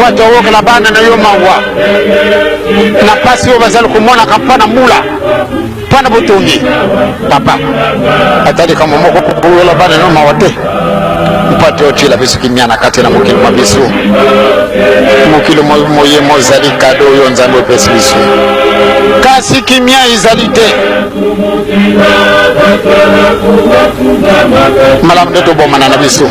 bato oyokela bana na yo mawa na mpasi oyo bazali komonaka mpo na mbula mpo na botongi papa ata likambo moko kokoyola bana no mawa te mpo te otyela biso kimia na kati na mokili mwa biso mokili moye mozali kado oyo nzambe opesi biso kasi kimia ezali te malamu nde tobomana na biso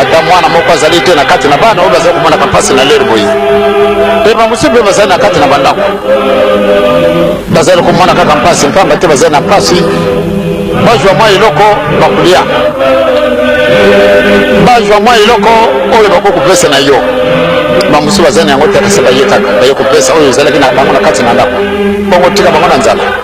ata mwana moko azali te na kati na bana oyo bazali komonaka mpasi na lere boye mpe bamosusu mpe bazali na kati na bandako bazali komona kaka mpasi mpamba te bazali na mpasi bazwa mwa eloko bakolia bazwa mwa eloko oyo bakoki kopesa na yo bamosusu bazali na yango te kasi baye kaka baye kopesa oyo ezalaki na bango na kati na ndako bongo tika bango na nzala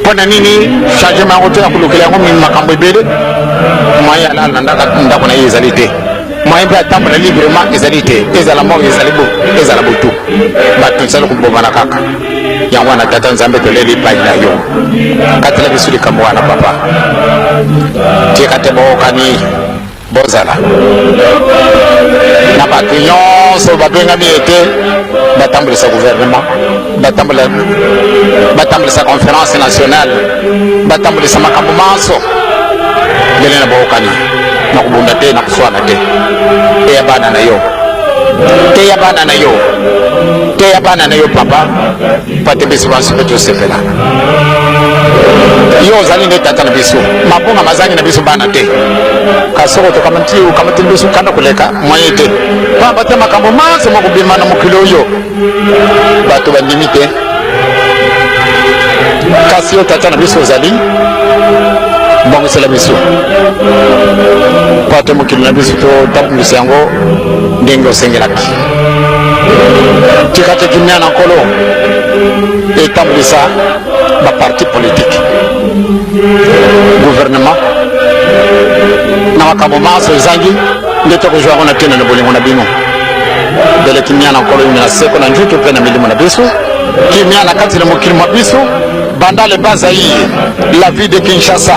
mpo na nini changement yango te ya kolukela yango makambo ebele moyen ya nalandaka ndako na ye ezali te moyen mpe atambola librement ezali te ezala moko ezali bo ezala botu bato ezali kobomana kaka yango wana tata nzambe toleli epai na yo katela biso likambo wana papa tie kate bookani bozala na bato nyonso babengami ete batambolisa gouvernement batambolisa conférence nationale batambolisa makambo manso ndele na bookani na kobunda te na koswana te eya bana na yo teya bana na yo teya bana na yo papa pate biso banso mpe tosepela yo ozali nde tata na biso mabonga mazangi na biso bana te kasi soko tokamatili biso kanda koleka moye te pamba te makambo manso makobima na mokili oyo bato bandimi te kasi yo tata na biso ozali bongisela biso mpo ate mokili na biso totambwisa yango ndenge osengelaki tika te kimia na nkolo etambwisa baparti politike guvernema na makambo manso ezangi nde tokozwa yango na tene na bolingo na bino bele kimia na nkolo yumela seko na njutu mpe na milimo na biso kimia na kati na mokili mwa biso banda le bazaire la vie de kinshasa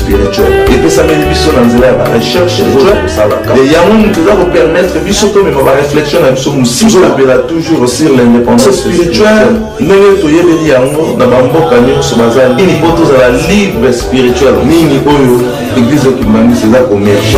spirituel epesameli biso na nzela ya barecherche oyo tosalaka yango moto eza kopermettre biso tomema bareflexion na biso mosisapela toujours sur l'indépendance spirituelle ndenge toyebeli yango na bamboka nyonso baza nini mpo tozala libre spirituel nini oyo eglise ya kimbanisi eza komerge